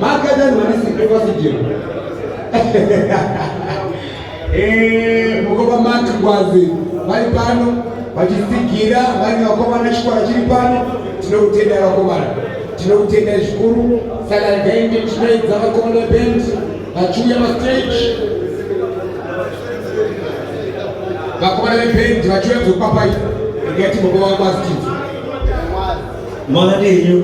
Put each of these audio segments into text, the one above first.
Makadani wani sipe kwa sijio. Eh, mukoma mati kwazi. Vari pano, vachisigira, vari vakomana chikwara chiri pano. Tinokutenda vakomana. Tinokutenda zvikuru. Saka gainde chinoedza vakomana band. Vachuya ma stage. Vakomana ve band vachuya kuzopapai. Ngati mukoma kwazi. Mwana ndio.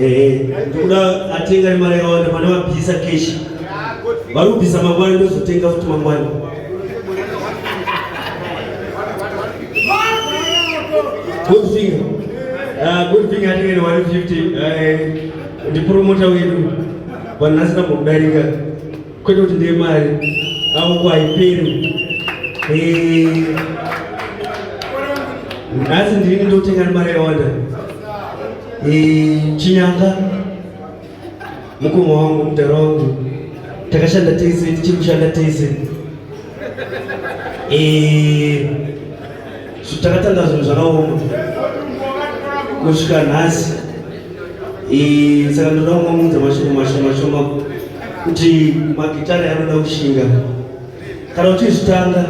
Eh, ndokuda atenga nemari yakawanda pane vabvisa keshi vari kubvisa mangwana ndozotenga futi mangwana good thing ah, good thing atenge ne 150 eh, ndipromota wedu vanhu asina kudarika Kwete kuti ndiye mari avo kwaiperi nhasi ndini ndotenga nemari yawanda chinyanga mukoma wangu mudhara wangu takashanda tese tichiri kushanda tese Takatanga zvinhu zvakaoma kusvika nhasi, saka ndoda kumaunza mashoko mashoma shoma kuti magitare anoda kushinga kana uchizvitanga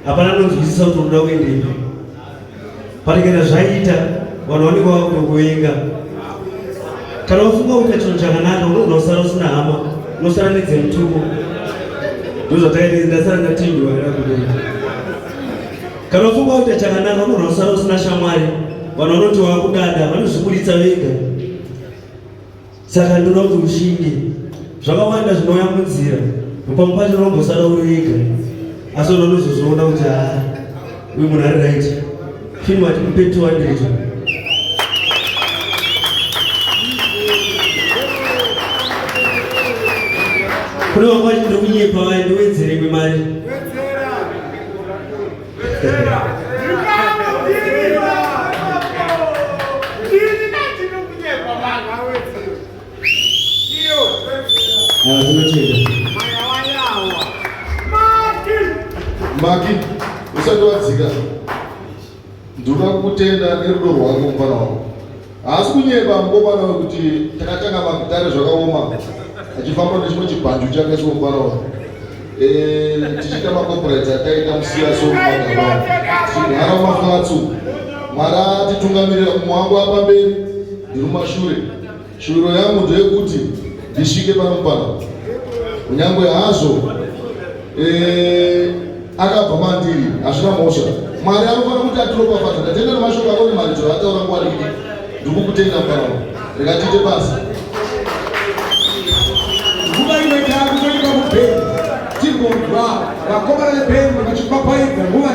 hapana anonzwisisa kuti unoda kuendepi patikana zvaita vanhu vanenge vakutokuvenga kana ufunga kuita chinhu chakanaka unogona kusara usina hama unosara nedzemutuko ndozvatakaita ndasara ndatindiwaira kudoa Kana ufunga kuti chakanaka munhu wasara usina shamwari, vanhu vanoti wakudada vanozviburitsa vega. Saka ndinoda kuti ushinge. Zvakawanda zvinouya munzira, pamwe pacho unombosara uri wega, asi unozozviona kuti haa uyu munhu ari right. Him at mpe 200. Kune wakwati ndokunyepa waye ndowedzere kwemari. maki usati wadzika ndoda kutenda nerudo rwako mufana wako haasi kunyeba mukomana wekuti takatanga magitare zvakaoma achifamba nechimwe chibhanju chake sikomufana wako eh, tichiita makoporaiti ataita musiya somuaa tinhara maflatsu mwari atitungamirira kumwe wangu apamberi ndirumashure Shuviro yangu ndeyekuti ndisvike pano pano, kunyangwe hazvo eh, akabva mandiri, hazvina mhosva. Mwari anofanira kuti atiropafadza. Ndatenda nemashoko ako nemaridzo ataura nguva diki, ndiri kukutenda pano, rikatiite basa. Nguva imwe takutoita kubheni tigonzwa vakomana vebheni vachipapaidza nguva